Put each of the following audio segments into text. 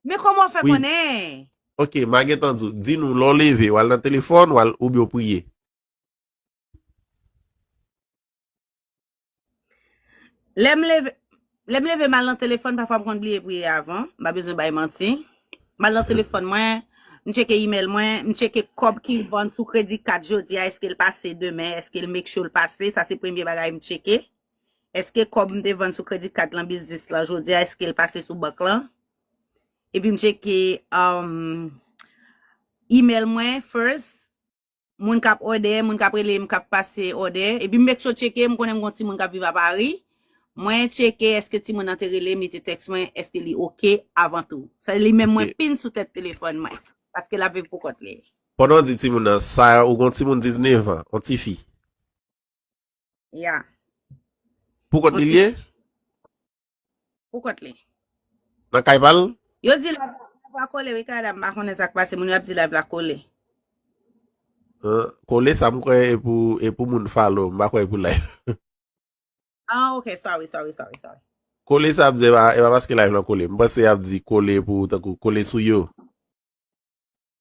Men kòman ou fè Oui. konnen? Ok, ma gen tan di w. Di nou lè w leve, w al nan telefòn, w al oubyen w priye. Lè m leve, lè m leve m al nan telefòn, pafwa m konn bliye priye avan, m pa bezwen bay manti. M al nan telefòn mwen, m tcheke email mwen, m tcheke kòb ki vann sou kredi kat jodi a, eske l pase demen, eske l make sure l pase, sa se premye bagay m tcheke. Eske kòb m te vann sou kredi kat lan biznis lan jodi a eske l pase sou bank lan? Epi m tcheke email mwen first, moun k ap òdè, moun k ap rele m k ap pase òdè. Epi m make sure tcheke, m konnen m gon timoun k ap viv a Paris. Mwen tcheke eske timoun nan te rele m, li te text mwen, eske li ok avan tou. Se li menm mwen pin sou tèt telefòn mwen. Paske l ap viv pou kont li. Pandan w di timoun nan, sa a ou gon timoun 19 an, on tifi? Ya. Pou kont li li ye? Pou kont li. Nan kay pa l? Yo di live la pa kole wi Canada m pa konnen sak pase moun yo ap di live la kole. Kole sa m kwè e pou e pou moun follow m pa kwè e pou live. Ah ok sorry sorry sorry sorry. Kole sa ap di e pa paske live la kole m panse ap di kole pou tankou kole sou yo.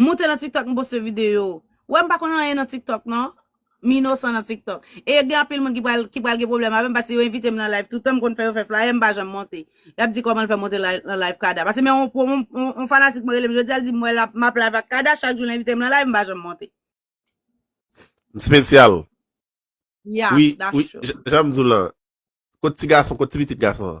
M moute nan tiktok m poste video. Wè m pa konn anyen nan tiktok non. M inosan nan tiktok. E gen anpil moun ki pral gen pwoblèm avè m paske yo envite m nan live toutan. M konn fè yo fè flyer m pa janm monte. Y ap di kòman l fè monte nan live Kada. Paske men yon fanatik mwen rele m jodi a l di m wè m ap live ak Kada chak jou l envite m nan live m pa janm monte. M spesyal. Ya, da cho. Wi, wi, jan m di w lan. Kot ti gason, kot ti pitit gason an?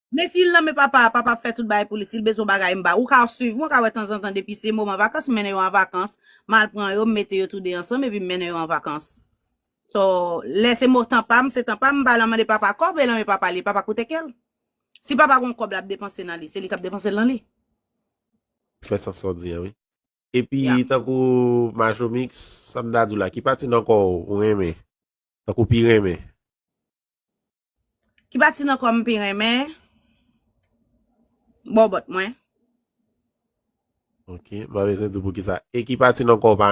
Men si l nan men papa a, papa ap fè tout bagay pou li. Si l bezwen yon bagay, m ba. Ou ka swiv mwen, ou ka wè tanzantan depi se moman vakans, m mennen yo an vakans. M al pran yo, m mete yo tou de ansanm epi m mennen yo an vakans. So, lè se mo tan pa m, se tan pa m, m pa al mande papa kòb, e nan men papa li, papa koute kè l. Si papa gen yon kòb l ap depanse nan li, se li k ap depanse l nan li. Fè sans sa w di a wi. Epi Ya. tankou Majomix, sa m ta di w la, ki pati nan kò w ou renmen? Tankou pi renmen? Ki pati nan kò m pi renmen? Bòbòt mwen. Ok, mwen bezwen di poukisa. E ki pati nan kò w pa renmen?